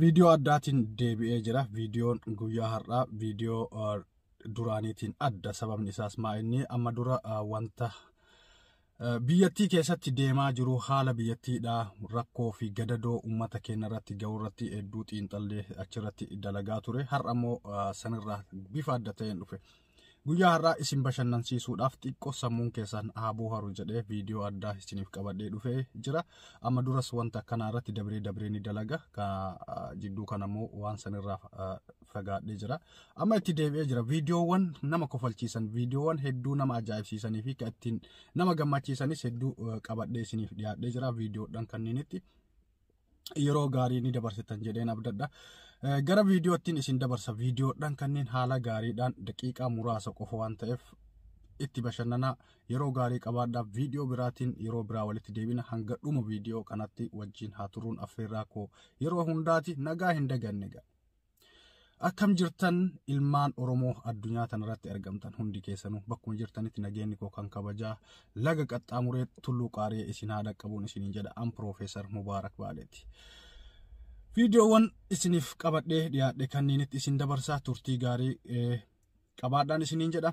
Viidiyoo addaatiin deebi'ee jira. Viidiyoon guyyaa har'aa viidiyoo uh, duraaniitiin adda. Sababni isaas maa inni amma dura uh, wanta uh, biyyattii keessatti deemaa jiru haala biyyattiidha rakkoo fi gadadoo uummata keenya irratti ga'u irratti hedduu xiinxallee achirratti dalagaa ture. Har'a immoo uh, sanirraa bifa adda ta'een dhufe. Guyyaa har'aa isin bashannansiisuudhaaf xiqqoo sammuun keessan haa booharu jedhee viidiyoo addaa isiniif qabadhee dhufee jira. Amma duras wanta akkanaa irratti dabree dabree ni dalaga. Jidduu kana immoo waan sanirraa fagaadhee jira. Amma itti deebi'ee jira. Viidiyoowwan nama kofalchiisan, viidiyoowwan hedduu nama ajaa'ibsiisanii fi kan ittiin nama gammachiisanis hedduu qabadhee isiniif dhiyaadhee jira viidiyoodhaan kanniinitti. yeroo gaarii ni dabarsitan jedheen abdadha. Gara viidiyoottiin isin dabarsa viidiyoodhaan kanneen haala gaariidhaan daqiiqaa muraasa qofa waan ta'eef itti bashannanaa yeroo gaarii qabaadhaaf viidiyoo biraatiin yeroo biraa walitti deebina hanga dhuma viidiyoo kanatti wajjin haa turuun affeerraa koo yeroo hundaati nagaa hin daganne ga'a. Akkam jirtan ilmaan Oromoo addunyaa tanarratti argamtan hundi keessanuu bakkuma jirtanitti nageenyi koo kan kabajaa laga qaxxaamuree tulluu qaaree isin haa dhaqqabuun isiniin jedha an Piroofeesar Mubaarak Baaleeti. Viidiyoowwan isiniif qabadhee dhiyaadhe kanniinitti isin dabarsaa turtii gaarii qabaadhaan isiniin jedha.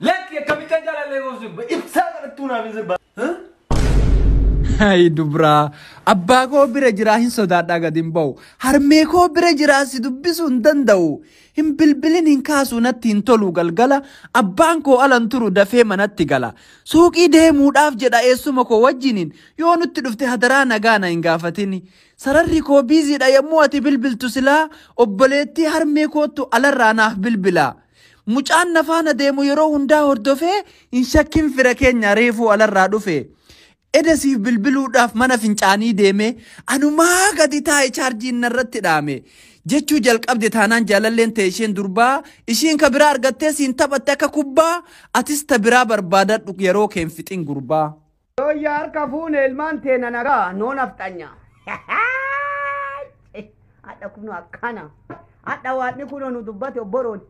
Lakki akkamittan jaalallee koo sirba ibsaa kadhattuu naaf hin sirbaa. Hayi dubraa abbaa koo bira jiraa hin sodaadhaa gad hin ba'u harmee koo bira jiraa si dubbisuu hin danda'u hin bilbilin hin kaasuu natti hin tolu galgala abbaan koo alan turu dafee manatti gala suuqii deemuudhaaf jedha eessuma koo wajjiniin yoo nutti dhufte hadaraa nagaa na hin gaafatini sararri koo biiziidha yommuu ati bilbiltu silaa obboleettii harmee koottu alarraa naaf bilbilaa. Mucaan na faana deemu yeroo hundaa hordofee hin shakkin fira keenya reefuu alarraa dhufe. Eda siif bilbiluudhaaf mana fincaanii deemee anumaa gadi taa'e chaarjiin narratti dhaame. Jechuu jalqabde taanaan jaalalleen ta'e isheen durbaa ishiin ka biraa argattee siin taphatte akka kubbaa atis ta biraa barbaadadhu yeroo keen fixin gurbaa. Yooyya harka fuune ilmaan teena nagaa noo nafxanya. Hadha kuno akkana. Hadha waadni kuno nu dubbate obboroon.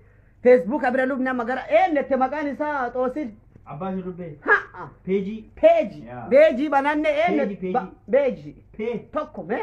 Feesbuuka bira lubni amma gara eennette maqaan isaa xoosin. Abbaa ishee dubbee. Ha'a. Peejii. Peeji. Yaa. Beejii bananne Peeji, eenne. peeji. Beejii. Pee. Tokko mee.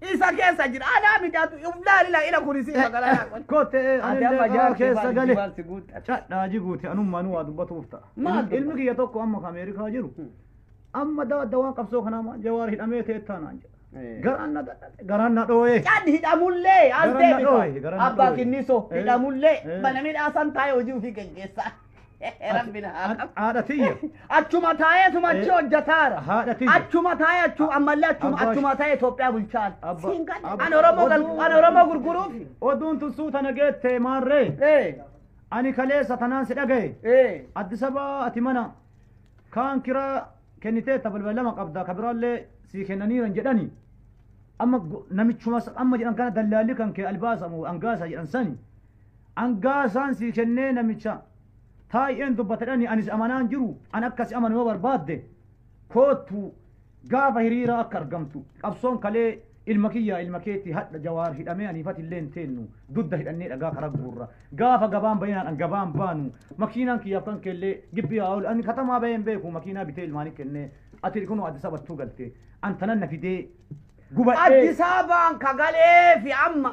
Isa keessa jira. Anaa mijaatu. Ibdaa ila ila kuni si magala yaa kun. Kotte Ati amma jaartii keessa baadiyyaa gale. waan si guutte. Cadhaa jiguuti anummaan waa dubbatuuf ta'a. Maal dubbata? Ilmi kiyya tokko amma ka Ameerikaa jiru. Amma dawadda waan qabsoo kanaa maal jawaar hidhamee ta'e taanaan jedha. Garaan na dadhabe garaan na dhooyee. Cad hidhamullee Garan na dhooye, aldeebisa. garan na Abbaa dhooye. kinniso Eh. hidhamullee Eh. mana midhaasan taa'ee hojii ofii gaggeessaa. Rabbina haa qabu. Haadha tiyya. Achuma taa'ee tuma achi hojjetaara. Haadha tiyya. Achuma taa'ee achuma ammallee achuma Abbaa- achuma taa'ee Itoophiyaa bulchaan. Abba- Siin kan- abba- An Oromoo gal- an Oromoo gurguruuf. Oduun tun suuta na geette maarree. Ee Ani kaleessa tanaan si dhagaye. ee Addis Ababa ati mana kaan kiraa kenniteetta balbala lama qabda ka biraallee sii kennaniiran jedhani. Amma gu- namichuma amma jedhan kana dallaalli kan kee albaasa moo angaasa jedhan sani. Angaa isaan sii kennee namicha taay'een dubbatadhani anis amanaan jiru an akka si amanu yoo barbaadde koottu gaafa hiriira akka argamtu qabsoon kalee ilma kiyyaa ilma keetti hadha jawaar hidhamee aniifati illee hin teennu dudda hidhannee dhagaa karaa guurra gaafa gabaan bayinaan an gabaan baanu makiinaan kiyyaaf kan keellee gibbii haa oolu ani katamaa bahee hin beeku makiinaa bitee ilmaanii kennee ati kunoo addis abattuu galte an tanan na fidee gubadhee Addis Ababaan kagalee fi amma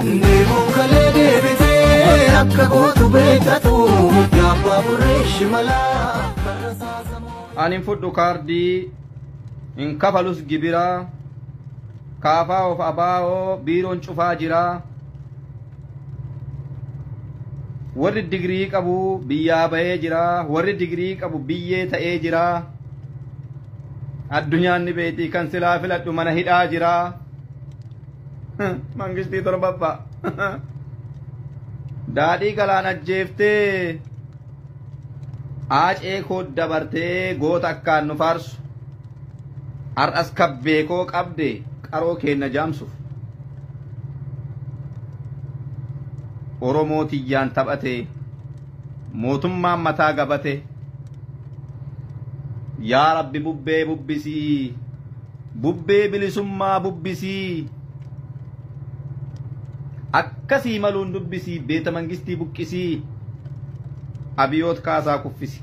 Deemuun kalee deebitee akka gootu beekatu yaabbaa burree shimalaa karra saasamoo. An hin fudhu kaardii hin kafalus gibira kaafaa of abaa'oo biiroon cufaa jira warri digirii qabu biyyaa ba'ee jira warri digirii qabu biyyee ta'ee jira addunyaan ni beekti kan silaa filadhu mana hidhaa jira. Mangistii torbaffaa. Daadhii galaan ajjeeftee aacee koo dabartee goota akkaan nu faarsu. Har'as kabbee koo qabde qaroo keenna jaamsuuf. Oromoo tiyyaan taphatee mootummaan mataa gabatee. Yaa Rabbi bubbee bubbisii Bubbee bilisummaa bubbisii akkasii maluun dubbisii beeta mangistii buqqisii abiyoot kaasaa kuffisi.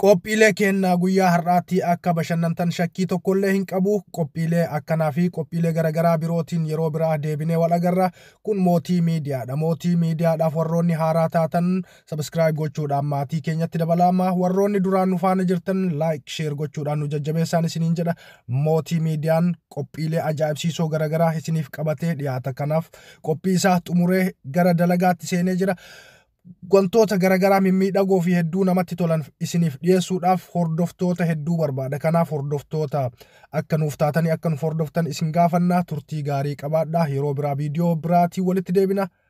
Qophiilee kennaa guyyaa har'aatti akka bashannantan shakkii tokkollee hin qabu. Qophiilee akkanaa fi qophiilee garaagaraa birootiin yeroo biraa deebinee wal agarra. Kun mootii miidiyaadha. Mootii miidiyaadhaaf warroonni haaraa taatan Subscribe gochuudhaan maatii keenyatti dabalamaa warroonni duraan nu faana jirtan like share gochuudhaan nu jajjabeessaan isiniin jedha mootii miidiyaan qophiilee ajaa'ibsiisoo garaagaraa isiniif qabatee dhiyaata kanaaf qophii isaa xumuree gara dalagaatti seenee jira wantoota garaagaraa mimmiidhagoo fi hedduu namatti tolan isiniif dhiyeessuudhaaf hordoftoota hedduu barbaada kanaaf hordoftoota akka nuuf taatanii akka nuuf hordoftan isin gaafannaa turtii gaarii qabaadhaa yeroo biraa viidiyoo biraatiin walitti deebina